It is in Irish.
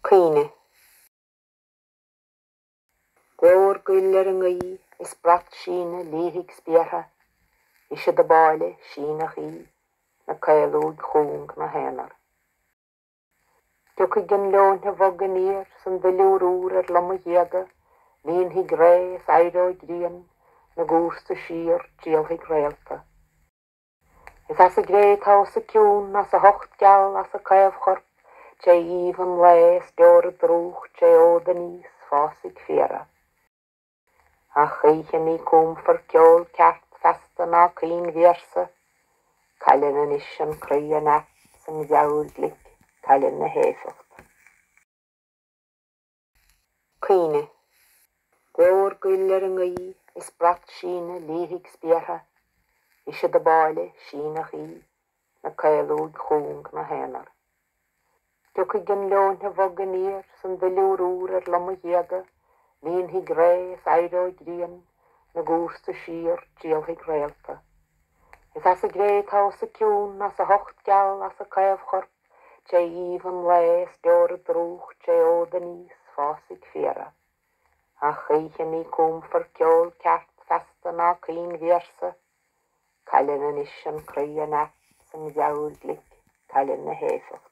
Caoineadh. Glór goil ar an ngaoith is brat síne liathaigh spéartha, ise dob áille síneadh í, 'na caoluaigh chúng 'na haonar. Tiocfaidh an leoithne bhog aniar 's an duilliúr úr ar lomaghéaga, líonfaidh ré is éireoidh grian 'na gcúrsa síor, triallfaidh réalta. Is as an gcré atá os a cionn, as a hucht geal, as a caomhchorp, tré aoibh an lae is deora drúcht tré fhód aníos, fásfaidh féara. Ach choíche ní cúmfar ceol ceart feasta ná caoinvéarsa, cailleann anois an croí a neart 's an mheabhair ghlic, cailleann a héifeacht. Caoineadh. Glór goil ar an ngaoith is brat síne liathaigh spéartha, Ise dob áille síneadh í, 'na caoluaigh chúng 'na haonar. Tiocfaidh an leoithne bhog aniar 's an duilliúr úr ar lomaghéaga, Líonfaidh ré is éireoidh grian 'na gcúrsa síor, triallfaidh réalta. Is as an gcré atá os a cionn, as a hucht geal, as a caomhchorp, Tré aoibh an lae is deora drúcht Tré fhód aníos fásfaidh féara Ach choíche ní cúmfar ceol ceart feasta ná caoinvéarsa Cailleann anois an croí a neart 's an mheabhair ghlic cailleann a héifeacht.